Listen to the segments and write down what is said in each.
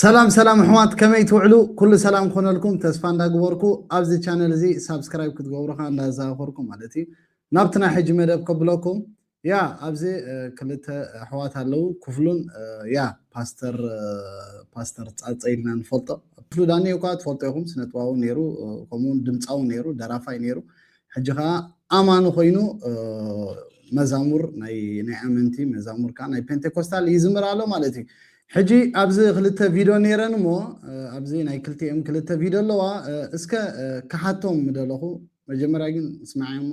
ሰላም ሰላም ኣሕዋት ከመይ ትውዕሉ ኩሉ ሰላም ክኾነልኩም ተስፋ እንዳግበርኩ ኣብዚ ቻነል እዚ ሳብስክራይብ ክትገብሩካ እንዳዘኻኸርኩ ማለት እዩ ናብቲ ናይ ሕጂ መደብ ከብለኩም ያ ኣብዚ ክልተ ኣሕዋት ኣለዉ ኩፍሉን ያ ፓስተር ፓስተር ጻጸ ኢልና ንፈልጦ ክፍሉ ዳኒ እኳ ትፈልጦ ኢኹም ስነጥባዊ ነይሩ ከምኡውን ድምጻዊ ነይሩ ደራፋይ ነይሩ ሕጂ ከዓ ኣማኒ ኮይኑ መዛሙር ናይ ናይ ኣመንቲ መዛሙር ከዓ ናይ ፔንቴኮስታል ይዝምር ኣሎ ማለት እዩ ሕጂ ኣብዚ ክልተ ቪድዮ ነይረን እሞ ኣብዚ ናይ ክልቲኦም ክልተ ቪድዮ ኣለዋ እስከ ክሓቶም ምደለኹ መጀመርያ ግን ስማዕዮ እሞ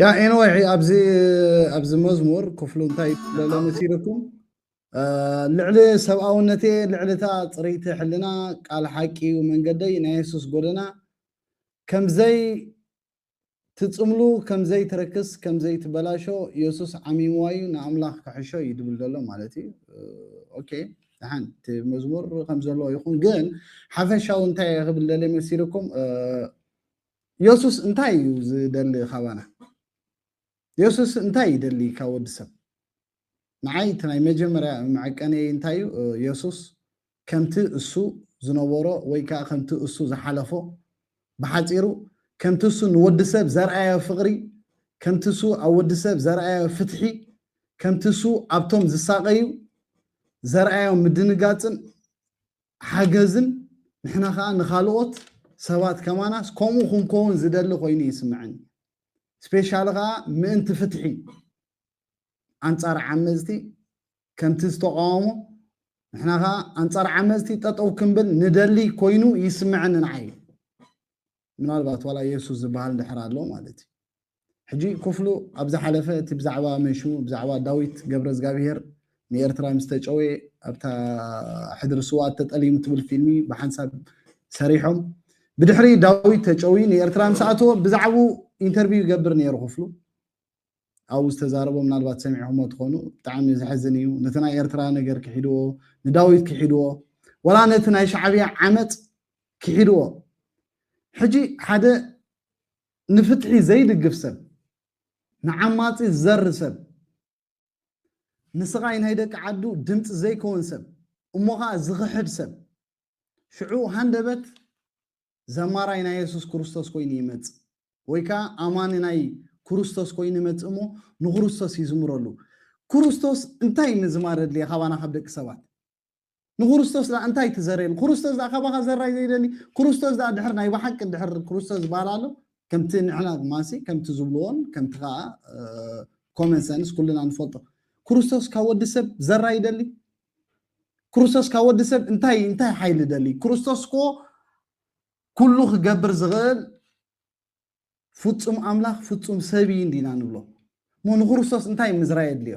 ያ ኤንወይ ኣብዚ ኣብዚ መዝሙር ክፍሉ እንታይ ለሎ መሲልኩም ልዕሊ ሰብኣውነቴ ልዕልታ ፅርይቲ ሕልና ቃል ሓቂ እዩ መንገደይ ናይ የሱስ ጎደና ከምዘይ ትፅምሉ ከምዘይ ትርክስ ከምዘይ ትበላሾ የሱስ ዓሚምዋ እዩ ንኣምላኽ ክሕሾ እዩ ድብል ዘሎ ማለት እዩ ኦኬ ደሓን እቲ መዝሙር ከምዘለዎ ይኹን ግን ሓፈሻዊ እንታይ ክብል ደለ መሲልኩም የሱስ እንታይ እዩ ዝደሊ ካባና? የሱስ እንታይ ይደሊ ካብ ወዲ ሰብ? ንዓይ እቲ ናይ መጀመርያ መዐቀንየይ እንታይ እዩ? የሱስ ከምቲ እሱ ዝነበሮ ወይ ከዓ ከምቲ እሱ ዝሓለፎ ብሓፂሩ ከምቲ እሱ ንወዲ ሰብ ዘርኣዮ ፍቕሪ፣ ከምቲ እሱ ኣብ ወዲ ሰብ ዘርኣዮ ፍትሒ፣ ከምቲ እሱ ኣብቶም ዝሳቐዩ ዘርኣዮ ምድንጋፅን ሓገዝን ንሕና ከኣ ንኻልኦት ሰባት ከማናስ ከምኡ ክንከውን ዝደሊ ኮይኑ ይስምዐኒ ስፔሻሊ ከኣ ምእንቲ ፍትሒ ኣንጻር ዓመዝቲ ከምቲ ዝተቃወሞ ንሕና ከኣ ኣንጻር ዓመዝቲ ጠጠው ክንብል ንደሊ ኮይኑ ይስምዐኒ ንዓይ ምናልባት ዋላ የሱስ ዝበሃል ድሕር ኣሎ ማለት እዩ ሕጂ ኩፍሉ ኣብ ዝሓለፈ እቲ ብዛዕባ መን ሽሙ ብዛዕባ ዳዊት ገብረዝጋብሄር ንኤርትራ ምስ ተጨውየ ኣብታ ሕድሪ ስውኣት ተጠሊሙ ትብል ፊልሚ ብሓንሳብ ሰሪሖም ብድሕሪ ዳዊት ተጨውዩ ንኤርትራ ምስ ኣተወ ብዛዕብኡ ኢንተርቪው ይገብር ነይሩ ክፍሉ ኣብኡ ዝተዛረቦ ምናልባት ሰሚዕኹሞ ትኾኑ ብጣዕሚ ዘሕዝን እዩ ነቲ ናይ ኤርትራ ነገር ክሒድዎ ንዳዊት ክሒድዎ ወላ ነቲ ናይ ሻዕብያ ዓመፅ ክሒድዎ ሕጂ ሓደ ንፍትሒ ዘይድግፍ ሰብ ንዓማጺ ዝዘሪ ሰብ ንስቓይ ናይ ደቂ ዓዱ ድምጺ ዘይከውን ሰብ እሞ ኸኣ ዝኽሕድ ሰብ ሽዑ ሃንደበት ዘማራይ ናይ የሱስ ክርስቶስ ኮይኑ ይመጽእ ወይ ከኣ ኣማኒ ናይ ክርስቶስ ኮይኑ ይመጽእ እሞ ንክርስቶስ ይዝምረሉ ክርስቶስ እንታይ ምዝማር ኣድልየ ካባና ካብ ደቂ ሰባት ንክርስቶስ ድኣ እንታይ ትዘርየሉ ክርስቶስ ድኣ ካባኻ ዘራይ ዘይደሊ ክርስቶስ ድኣ ድሕር ናይ ብሓቂ ድሕር ክርስቶስ ዝበሃል ኣሎ ከምቲ ንሕና ድማሲ ከምቲ ዝብልዎን ከምቲ ከዓ ኮመን ሰንስ ኩልና ንፈልጦ ክርስቶስ ካብ ወዲ ሰብ ዘራ ይደሊ ክርስቶስ ካብ ወዲ ሰብ እንታይ እንታይ ሓይሊ ደሊ ክርስቶስ ኮ ኩሉ ክገብር ዝኽእል ፍጹም ኣምላኽ ፍጹም ሰብ እዩ እንዲና ንብሎ እሞ ንክርስቶስ እንታይ ምዝራይ የድልዮ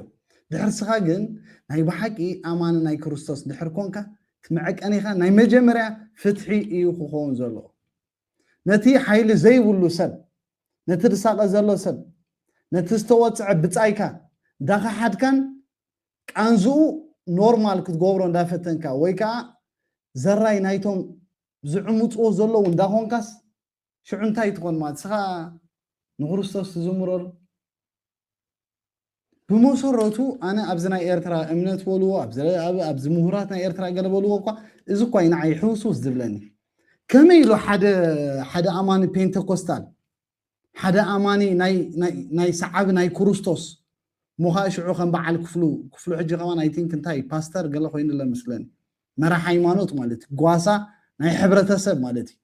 ድሕር ስኻ ግን ናይ ብሓቂ ኣማኒ ናይ ክርስቶስ ድሕር ኮንካ ትመዐቀኒኻ ናይ መጀመርያ ፍትሒ እዩ ክኸውን ዘለዎ ነቲ ሓይሊ ዘይብሉ ሰብ ነቲ ድሳቐ ዘሎ ሰብ ነቲ ዝተወፅዐ ብፃይካ እንዳኸሓድካን ቃንዝኡ ኖርማል ክትገብሮ እንዳፈተንካ ወይ ከዓ ዘራይ ናይቶም ዝዕምፅዎ ዘለዉ እንዳኾንካስ ሽዑ እንታይ ትኾን ማለት ስኻ ንክርስቶስ ትዝምረሉ ብመሰረቱ ኣነ ኣብዚ ናይ ኤርትራ እምነት በልዎ ኣብዚ ምሁራት ናይ ኤርትራ ገለ በልዎ እኳ እዚ እኳ እዩ ንዓይ ሕውስውስ ዝብለኒ ከመይ ኢሉ ሓደ ኣማኒ ፔንተኮስታል ሓደ ኣማኒ ናይ ሰዓቢ ናይ ክርስቶስ ሞኻ ሽዑ ከም በዓል ክፍሉ ክፍሉ ሕጂ ከማን ኣይ ቲንክ እንታይ ፓስተር ገለ ኮይኑለ ምስለኒ መራሕ ሃይማኖት ማለት ጓሳ ናይ ሕብረተሰብ ማለት እዩ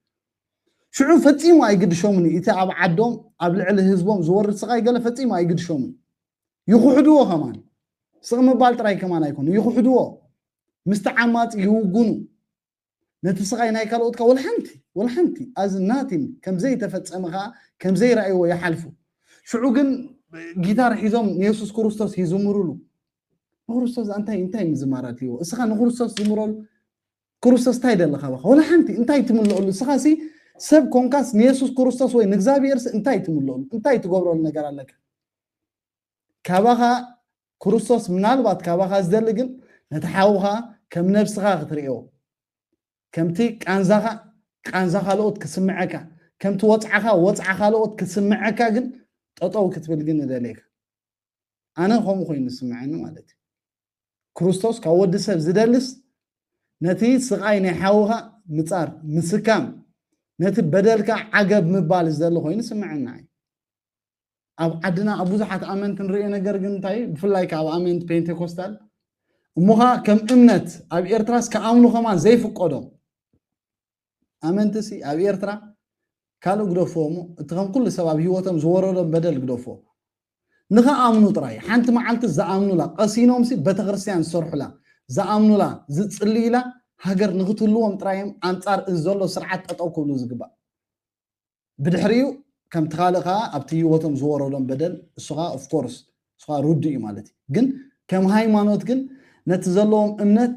ሽዑ ፈጺሙ ኣይግድሾምን እዩ እቲ ኣብ ዓዶም ኣብ ልዕሊ ህዝቦም ዝወርድ ስቓይ ገለ ፈጺሙ ኣይግድሾምን ይኹሕድዎ ከማን ስቕ ምባል ጥራይ ከማን ኣይኮነ ይኹሕድዎ ምስቲ ዓማጽ ይውጉኑ ነቲ ስቓይ ናይ ካልኦት ወላ ሓንቲ ወላ ሓንቲ ኣዝ ናቲን ከም ዘይተፈጸመ ከዓ ከም ዘይረኣይዎ ይሓልፉ ሽዑ ግን ጊታር ሒዞም ንየሱስ ክርስቶስ ይዝምሩሉ ንክርስቶስ እንታይ እንታይ ምዝማራት እዩዎ እስኻ ንክርስቶስ ዝምረሉ ክርስቶስ እንታይ ደለካ በኻ ወላ ሓንቲ እንታይ ትምለኣሉ እስኻ ሲ ሰብ ኮንካስ ንየሱስ ክርስቶስ ወይ ንእግዚኣብሄርሲ እንታይ ትምለኣሉ እንታይ ትገብረሉ ነገር ኣለካ ካባኻ ክርስቶስ ምናልባት ካባኻ ዝደሊ ግን ነቲ ሓውኻ ከም ነብስኻ ክትርእዮ ከምቲ ቃንዛኻ ቃንዛ ካልኦት ክስምዐካ ከምቲ ወፅዓኻ ወፅዓ ካልኦት ክስምዐካ ግን ጠጠው ክትብል ግን እደልየካ ኣነ ከምኡ ኮይኑ ዝስምዐኒ ማለት እዩ ክርስቶስ ካብ ወዲ ሰብ ዝደልስ ነቲ ስቓይ ናይ ሓውኻ ምጻር ምስካም ነቲ በደልካ ዓገብ ምባል ዝደሊ ኮይኑ ስምዐና እዩ ኣብ ዓድና ኣብ ብዙሓት ኣመንቲ ንሪኦ ነገር ግን እንታይ እዩ ብፍላይ ካብ ኣመንቲ ፔንቴኮስታል እሞኻ ከም እምነት ኣብ ኤርትራስ ክኣምኑ ከማ ዘይፍቀዶም ኣመንቲሲ ኣብ ኤርትራ ካልእ ግደፍዎ እሞ እቲ ከም ኩሉ ሰብ ኣብ ሂወቶም ዝወረዶም በደል ግደፍዎ ንኽኣምኑ ጥራይ ሓንቲ መዓልቲ ዝኣምኑላ ቀሲኖምሲ ቤተክርስትያን ዝሰርሑላ ዝኣምኑላ ዝጽልዩላ ሃገር ንኽትህልዎም ጥራይ እዮም ኣንጻር እዚ ዘሎ ስርዓት ጠጠው ክብሉ ዝግባእ ብድሕሪኡ ከምቲ ካልእ ከዓ ኣብቲ ሂወቶም ዝወረዶም በደል እሱኻ ኦፍኮርስ እሱኻ ርዱእ እዩ ማለት እዩ ግን ከም ሃይማኖት ግን ነቲ ዘለዎም እምነት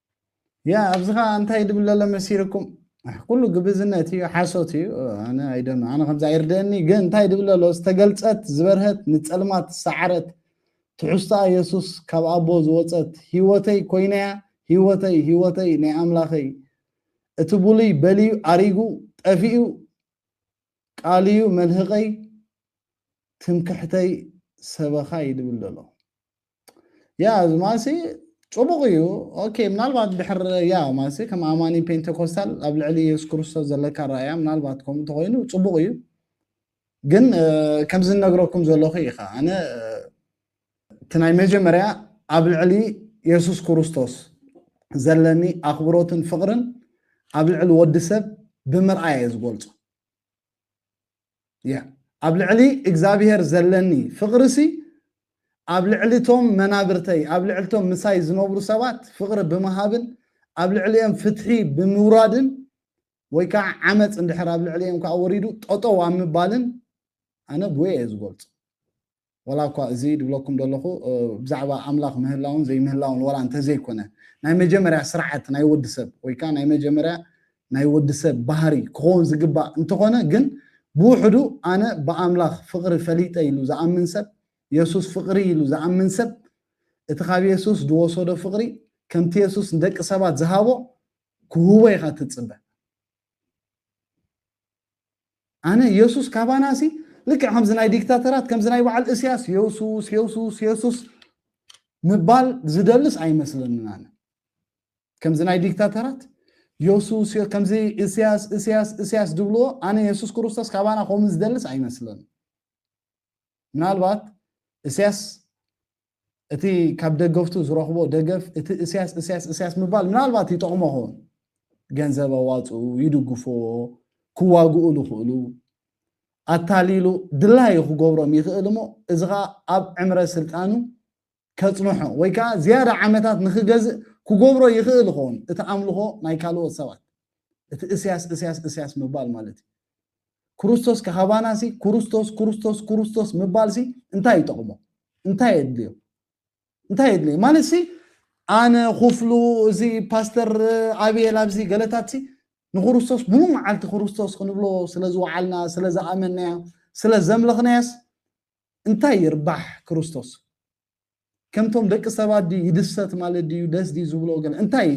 ያ ኣብዚ ከዓ እንታይ ድብለለ መሲልኩም ኩሉ ግብዝነት እዩ ሓሶት እዩ ኣነ ኣይደን ኣነ ከምዚ ኣይርደአኒ ግን እንታይ ድብለሎ ዝተገልፀት ዝበርሀት ንፀልማት ሰዓረት ትሕዝቶኣ የሱስ ካብ ኣቦ ዝወፀት ህይወተይ ኮይነያ ህይወተይ ህይወተይ ናይ ኣምላኸይ እቲ ብሉይ በልዩ ኣሪጉ ጠፊኡ ቃልዩ መልህቀይ ትምክሕተይ ሰበኻ ይድብለሎ ያ እዚ ማሲ ፅቡቕ እዩ ኦኬ ምናልባት ድሕር ያ ማሲ ከም ኣማኒ ፔንቴኮስታል ኣብ ልዕሊ የሱስ ክርስቶስ ዘለካ ራእያ ምናልባት ከምኡ እንተኮይኑ ፅቡቕ እዩ ግን ከምዚ እነግረኩም ዘለኹ ኢኻ ኣነ እቲ ናይ መጀመርያ ኣብ ልዕሊ የሱስ ክርስቶስ ዘለኒ ኣኽብሮትን ፍቕርን ኣብ ልዕሊ ወዲ ሰብ ብምርኣየ ዝገልፆ እያ። ኣብ ልዕሊ እግዚኣብሄር ዘለኒ ፍቕሪሲ፣ ኣብ ልዕሊ እቶም መናብርተይ፣ ኣብ ልዕሊ እቶም ምሳይ ዝነብሩ ሰባት ፍቕሪ ብምሃብን ኣብ ልዕሊኦም ፍትሒ ብምውራድን ወይ ከዓ ዓመፅ እንድሕር ኣብ ልዕሊኦም ከዓ ወሪዱ ጠጠው ኣብ ምባልን ኣነ ብወይ እየ ዝገልፆ። ዋላ እኳ እዚ ድብለኩም ደለኹ ብዛዕባ ኣምላኽ ምህላውን ዘይምህላውን ዋላ እንተዘይኮነ ናይ መጀመርያ ስርዓት ናይ ወዲ ሰብ ወይ ከዓ ናይ መጀመርያ ናይ ወዲ ሰብ ባህሪ ክኸውን ዝግባእ እንተኾነ ግን ብውሕዱ ኣነ ብኣምላኽ ፍቕሪ ፈሊጠ ኢሉ ዝኣምን ሰብ የሱስ ፍቕሪ ኢሉ ዝኣምን ሰብ እቲ ካብ የሱስ ዝወሰዶ ፍቕሪ ከምቲ የሱስ ንደቂ ሰባት ዝሃቦ ክህቦ ኢኻ ትጽበ ኣነ የሱስ ካባናሲ ልክዕ ከምዚ ናይ ዲክታተራት ከምዚ ናይ በዓል እስያስ የሱስ የሱስ የሱስ ምባል ዝደልስ ኣይመስለንን ኣነ ከምዚ ናይ ዲክታተራት የሱስ ከምዚ እስያስ እስያስ እስያስ ዝብልዎ ኣነ የሱስ ክርስቶስ ካባና ከምኡ ዝደልስ ኣይመስለንን ምናልባት እስያስ እቲ ካብ ደገፍቱ ዝረኽቦ ደገፍ እቲ እስያስ እስያስ እስያስ ምባል ምናልባት ይጠቕሞ ኸውን ገንዘብ ኣዋፅኡ ይድግፎዎ ክዋግኡ ዝኽእሉ ኣታሊሉ ድላዩ ክገብሮም ይኽእል እሞ እዚ ከዓ ኣብ ዕምረ ስልጣኑ ከፅንሖ ወይ ከዓ ዝያዳ ዓመታት ንክገዝእ ክገብሮ ይኽእል ይኸውን እቲ ኣምልኾ ናይ ካልኦት ሰባት እቲ እስያስ እስያስ እስያስ ምባል ማለት እዩ ክርስቶስ ካባና ሲ ክርስቶስ ክርስቶስ ክርስቶስ ምባል ሲ እንታይ ይጠቕሞ እንታይ የድልዮ እንታይ የድልዮ ማለት ሲ ኣነ ኩፍሉ እዚ ፓስተር ኣብየል ኣብዚ ገለታት ሲ ንክርስቶስ ሙሉ መዓልቲ ክርስቶስ ክንብሎ ስለ ዝወዓልና ስለ ዝኣመናያ ስለ ዘምለኽናያስ እንታይ ይርባሕ ክርስቶስ ከምቶም ደቂ ሰባት ድዩ ይድሰት ማለት ድዩ ደስ ድዩ ዝብሎ ገለ እንታይ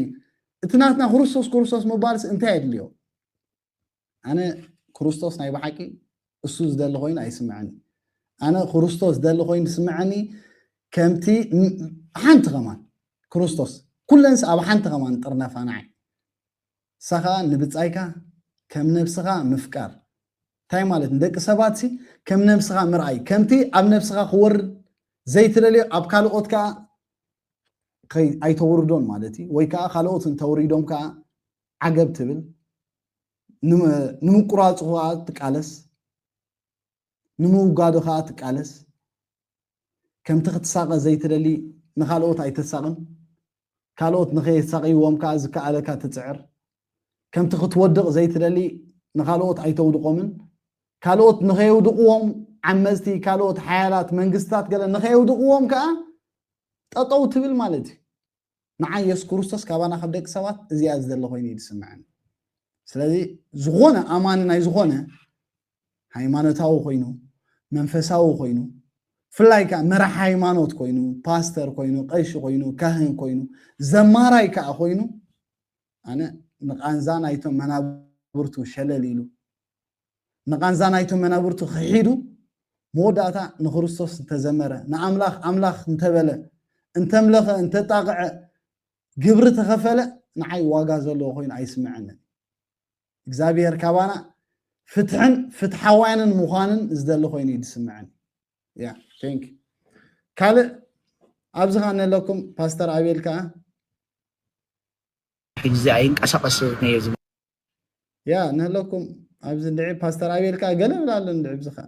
እቲ ናትና ክርስቶስ ክርስቶስ ምባልስ እንታይ የድልዮ ኣነ ክርስቶስ ናይ ብሓቂ እሱ ዝደሊ ኮይኑ ኣይስምዐኒ ኣነ ክርስቶስ ዝደሊ ኮይኑ ዝስምዐኒ ከምቲ ሓንቲ ከማን ክርስቶስ ኩለንስ ኣብ ሓንቲ ከማን ጥርነፋ ንዓይ እሳ ከዓ ንብፃይካ ከም ነብስኻ ምፍቃር እንታይ ማለት ንደቂ ሰባት ሲ ከም ነብስኻ ምርኣይ ከምቲ ኣብ ነብስኻ ክወርድ ዘይትደልዮ ኣብ ካልኦት ከዓ ኣይተውርዶን ማለት እዩ ወይ ከዓ ካልኦት እንተውሪዶም ከዓ ዓገብ ትብል፣ ንምቁራጹ ከኣ ትቃለስ፣ ንምውጋዱ ከኣ ትቃለስ፣ ከምቲ ክትሳቐ ዘይትደሊ ንኻልኦት ኣይተሳቕን፣ ካልኦት ንኸየሳቕይዎም ከኣ ዝከኣለካ ትጽዕር፣ ከምቲ ክትወድቕ ዘይትደሊ ንኻልኦት ኣይተውድቖምን፣ ካልኦት ንኸየውድቕዎም ዓመጽቲ ካልኦት ሓያላት መንግስትታት ገለ ንኸየውድቕዎም ከኣ ጠጠው ትብል ማለት እዩ። ንዓይ የሱስ ክርስቶስ ካባና ካብ ደቂ ሰባት እዚኣ ዝደለ ኮይኑ እዩ ዝስምዐኒ ስለዚ ዝኾነ ኣማኒ ናይ ዝኾነ ሃይማኖታዊ ኮይኑ መንፈሳዊ ኮይኑ ፍላይ ከዓ መራሕ ሃይማኖት ኮይኑ ፓስተር ኮይኑ ቀሺ ኮይኑ ካህን ኮይኑ ዘማራይ ከዓ ኮይኑ ኣነ ንቃንዛ ናይቶም መናብርቱ ሸለል ኢሉ ንቓንዛ ናይቶም መናብርቱ ኺሒዱ፣ መወዳእታ ንክርስቶስ እንተ ዘመረ፣ ንኣምላኽ ኣምላኽ እንተ በለ፣ እንተምለኸ፣ እንተ ጣቕዐ፣ ግብሪ ተኸፈለ፣ ንዓይ ዋጋ ዘለዎ ኮይኑ ኣይስምዐንን እዩ። እግዚኣብሄር ካባና ፍትሕን ፍትሓውያንን ምዃንን ዝደሊ ኮይኑ እዩ ዝስምዐኒ። ያ ቴንክ ዩ። ካልእ ኣብዚ ኸኣ ነለኩም ፓስተር ኣቤል ከኣ ሕጂ ኣይንቀሳቐስ ነየ ያ ንህለኩም ኣብዚ ድዒ ፓስተር ኣቤል ከዓ ገለ ብላ ኣሎ ንድዒ ብዚ ከዓ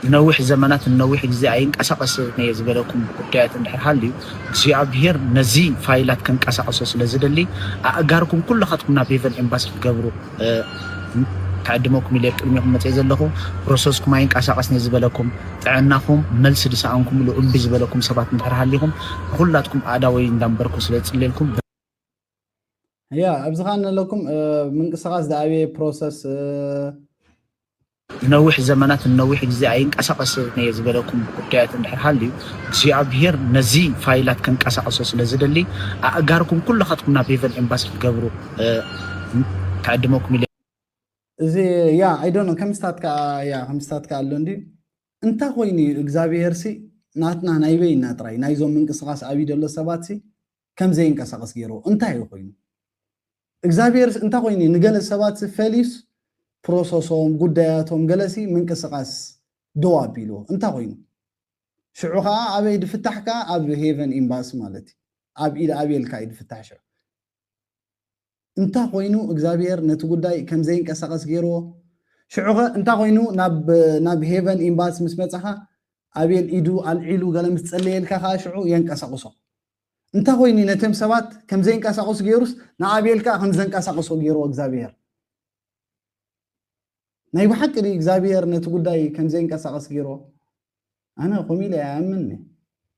ንነዊሕ ዘመናት ንነዊሕ ግዜ ኣይንቀሳቐስን እየ ዝበለኩም ጉዳያት እንድሕር ሃልዩ እግዚኣብሄር ነዚ ፋይላት ከንቀሳቐሶ ስለ ዝደሊ ኣእጋርኩም ኩላኻትኩም ናብ ሄቨን ኤምባሲ ክትገብሩ ክዕድመኩም ኢለ ቅድሚኹም መፅእ ዘለኹ ፕሮሰስኩም ኣይንቀሳቐስን እየ ዝበለኩም ጥዕናኹም መልሲ ድሰኣንኩምሉ እምቢ ዝበለኩም ሰባት እንድሕር ሃሊኹም ንኩላትኩም ኣእዳወይ እንዳንበርኩ ስለ ዝፅልየልኩም ያ ኣብዚ ከኣ ንለኩም ምንቅስቃስ ዝኣበየ ፕሮሰስ ንነዊሕ ዘመናት ንነዊሕ ግዜ ኣይንቀሳቀስን እየ ዝበለኩም ጉዳያት እንድሕር ሃልዩ እግዚኣብሄር ነዚ ፋይላት ከንቀሳቀሶ ስለ ዝደሊ ኣእጋርኩም ኩላኻትኩም ናብ ሄቨን ኤምባሲ ክትገብሩ ክዕድመኩም ኢለ እዚ ያ ኣይዶኖ ከምስታት ከዓ ያ ከምስታት ከዓ ኣሎ እንዲ እንታይ ኮይኑ እዩ እግዚኣብሄርሲ ናትና ናይ በይና ጥራይ ናይዞም ምንቅስቃስ ኣብዩ ዘሎ ሰባትሲ ከም ዘይንቀሳቐስ ገይርዎ እንታይ እዩ ኮይኑ እግዛብሄርስ እንታይ ኮይኑ እዩ ንገለ ሰባትሲ ፈልዩስ ፕሮሰሶም ጉዳያቶም ገለሲ ምንቅስቓስ ደው ኣቢልዎ እንታይ ኮይኑ ሽዑ ከዓ ኣበይ ድፍታሕ ከዓ ኣብ ሄቨን ኤምባሲ ማለት እዩ ኣብ ኢድ ኣቤልካ እዩ ድፍታሕ ሽዑ እንታ ኮይኑ እግዛብሄር ነቲ ጉዳይ ከም ዘይንቀሳቀስ ጌርዎ ሽዑኸ እንታ ኮይኑ ናብ ናብ ሄቨን ኢምባሲ ምስ መጻኻ ኣቤል ኢዱ ኣልዒሉ ገለ ምስ ጸለየልካ ከኣ ሽዑ የንቀሳቅሶ እንታ ኮይኑ ነቶም ሰባት ከም ዘይንቀሳቅሱ ጌሩስ ንኣቤል ከኣ ከም ዘንቀሳቅሶ ጌርዎ እግዛብሄር ናይ ብሓቂ ድዩ እግዚኣብሄር ነቲ ጉዳይ ከም ዘይንቀሳቐስ ገይሮ ኣነ ከምኡ ኢለ ኣይኣምን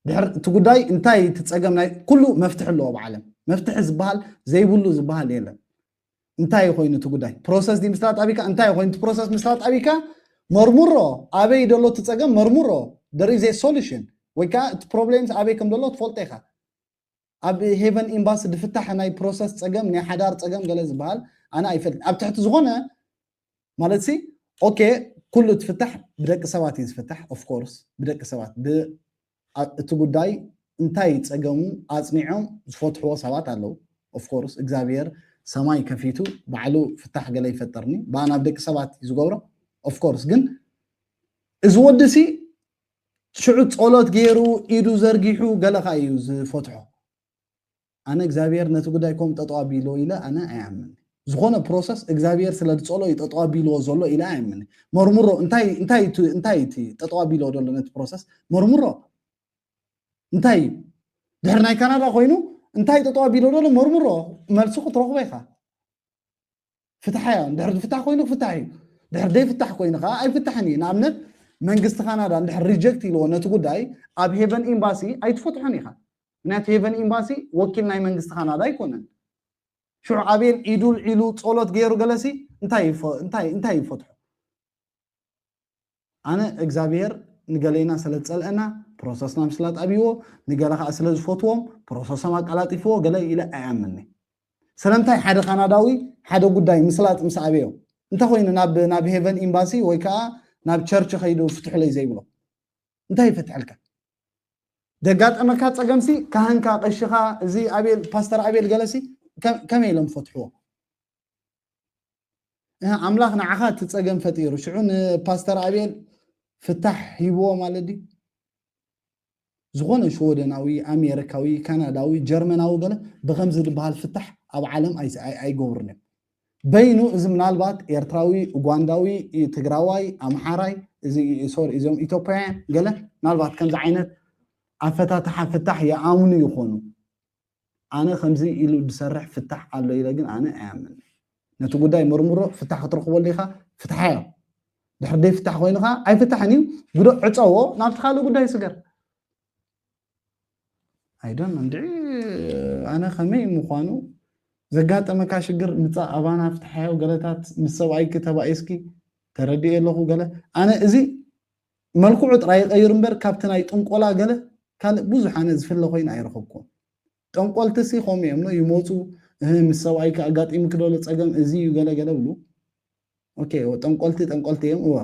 ድሕር እቲ ጉዳይ እንታይ እቲ ፀገም ናይ ኩሉ መፍትሒ ኣለዎ ኣብ ዓለም መፍትሒ ዝበሃል ዘይብሉ ዝበሃል የለን እንታይ እዩ ኮይኑ እቲ ጉዳይ ፕሮሰስ ድዩ ምስራት ኣቢካ እንታይ እዩ ኮይኑ እቲ ፕሮሰስ ምስራት ኣቢካ መርምሮ ኣበይ ደሎ እቲ ፀገም መርምሮ ደር ኢዝ ሶሉሽን ወይ ከዓ እቲ ፕሮብሌምስ ኣበይ ከም ደሎ ትፈልጦ ኢኻ ኣብ ሄቨን ኤምባሲ ድፍታሕ ናይ ፕሮሰስ ጸገም ናይ ሓዳር ጸገም ገለ ዝበሃል ኣነ ኣይፈልጥ ኣብ ትሕቲ ዝኾነ ማለት ሲ ኦኬ ኩሉ ትፍታሕ ብደቂ ሰባት እዩ ዝፍታሕ ኦፍ ኮርስ ብደቂ ሰባት እቲ ጉዳይ እንታይ ጸገሙ ኣጽኒዖም ዝፈትሕዎ ሰባት ኣለዉ ኦፍ ኮርስ እግዚኣብሔር ሰማይ ከፊቱ ባዕሉ ፍታሕ ገለ ይፈጠርኒ ብኣ ናብ ደቂ ሰባት እዩ ዝገብሮ ኦፍ ኮርስ ግን እዚ ወዲ ሲ ሽዑ ጸሎት ገይሩ ኢዱ ዘርጊሑ ገለ ከኣ እዩ ዝፈትሖ ኣነ እግዚኣብሔር ነቲ ጉዳይ ኮም ጠጠው ኣቢልዎ ኢለ ኣነ ኣይኣምን ዝኾነ ፕሮሰስ እግዚኣብሔር ስለ ዝጸሎ እዩ ጠጠው ኣቢልዎ ዘሎ ኢለ ኣይኣምን መርምሮ እንታይ እንታይ እቲ- እንታይ እቲ ጠጠው ኣቢልዎ ዘሎ ነቲ ፕሮሰስ መርምሮ እንታይ እዩ ድሕሪ ናይ ካናዳ ኮይኑ እንታይ ጠጠው ኣቢልዎ ዘሎ መርምሮ መልሲ ክትረኽቦ ኢኻ ፍትሓ እያ እንድሕር ዝፍታሕ ኮይኑ ክፍታሕ እዩ ድሕር ዘይፍታሕ ኮይኑ ከዓ ኣይፍታሕን እዩ ንኣብነት መንግስቲ ካናዳ እንድሕር ሪጀክት ኢልዎ ነቲ ጉዳይ ኣብ ሄቨን ኤምባሲ ኣይትፈትሖን ኢኻ ምክንያቱ ሄቨን ኤምባሲ ወኪል ናይ መንግስቲ ካናዳ ኣይኮነን ሽዑ ኣቤል ኢዱል ዒሉ ጸሎት ገይሩ ገለሲ እንታይ ይፈትሖ ኣነ እግዛብሄር ንገሌና ሰለዝጸልኣና ፕሮሰስና ምስላጥ ኣብይዎ ንገለ ከኣ ስለዝፈትዎም ፕሮሰሶም ኣቀላጢፍዎ ገለ ኢለ ኣይኣምንኒ ስለምንታይ ሓደ ካናዳዊ ሓደ ጉዳይ ምስላጥ ምስ ኣበዮ እንተኮይኑ ናብ ናብ ሄቨን ኤምባሲ ወይ ከኣ ናብ ቸርች ከይዱ ፍትሑለይ ዘይብሎ እንታይ ይፈትሐልካ ደጋጠመካ ፀገምሲ ካህንካ ቀሽኻ እዚ ኣቤል ፓስተር ኣቤል ገለሲ ከመይ ኢሎም ፈትሕዎ እህ ኣምላኽ ንዓኻ እቲ ጸገም ፈጢሩ ሽዑ ንፓስተር ኣብኤል ፍታሕ ሂብዎ ማለት ድዩ ዝኾነ ሽወደናዊ ኣሜሪካዊ ካናዳዊ ጀርመናዊ ገለ ብከምዚ ዝበሃል ፍታሕ ኣብ ዓለም ኣይገብሩን እዮም በይኑ እዚ ምናልባት ኤርትራዊ ኡጓንዳዊ ትግራዋይ ኣምሓራይ ሶሪ እዚኦም ኢትዮጵያውያን ገለ ምናልባት ከምዚ ዓይነት ኣፈታትሓ ፍታሕ ይኣምኑ ይኾኑ ኣነ ከምዚ ኢሉ ድሰርሕ ፍታሕ ኣሎ ኢለ ግን ኣነ ኣይኣምንን ነቲ ጉዳይ ምርምሮ ፍታሕ ክትረኽበሉ ኢኻ ፍትሓዮ ድሕሪ ደይፍታሕ ኮይኑ ኸዓ ኣይፍታሕን እዩ ግዶ ዕፀዎ ናብቲ ካልእ ጉዳይ ስገር ኣይዶን እንድዒ ኣነ ከመይ ምዃኑ ዘጋጠመካ ሽግር ምፃእ ኣባና ፍትሓዮ ገለታት ምስ ሰብኣይኪ ተባኢስኪ ተረድኤ ኣለኹ ገለ ኣነ እዚ መልክዑ ጥራይ ይቐይር እምበር ካብቲ ናይ ጥንቆላ ገለ ካልእ ብዙሕ ኣነ ዝፍለ ኮይኑ ኣይረኸብኩዎን። ጠንቆልቲሲ ከምኡ እዮም ን ይመጹ እህ ምስ ሰብኣይኪ ኣጋጢሙኪ ዶ ጸገም እዚ እዩ ገለ ገለ ይብሉ ኦኬ እወ ጠንቆልቲ ጠንቆልቲ እዮም እወ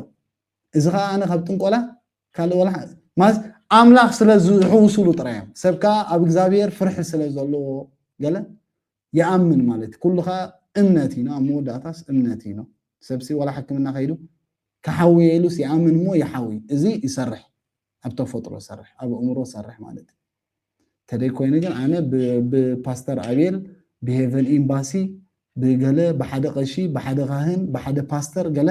እዚ ከኣ ኣነ ካብ ጥንቆላ ካልእ ወላ ማለት ኣምላኽ ስለ ዝሕውስሉ ጥራይ እዮም ሰብ ከኣ ኣብ እግዚኣብሔር ፍርሒ ስለ ዘለዎ ገለ ይኣምን ማለት ኩሉ ከኣ እምነት እዩ ኣብ መወዳእታስ እምነት እዩ ሰብሲ ዋላ ሕክምና ከይዱ ክሓውየ ኢሉስ ይኣምን እሞ ይሓውይ እዚ ይሰርሕ ኣብ ተፈጥሮ ይሰርሕ ኣብ ኣእምሮ ይሰርሕ ማለት ተደይ ኮይኑ ግን ኣነ ብፓስተር ኣቤል ብሄቨን ኤምባሲ ብገለ ብሓደ ቀሺ ብሓደ ካህን ብሓደ ፓስተር ገለ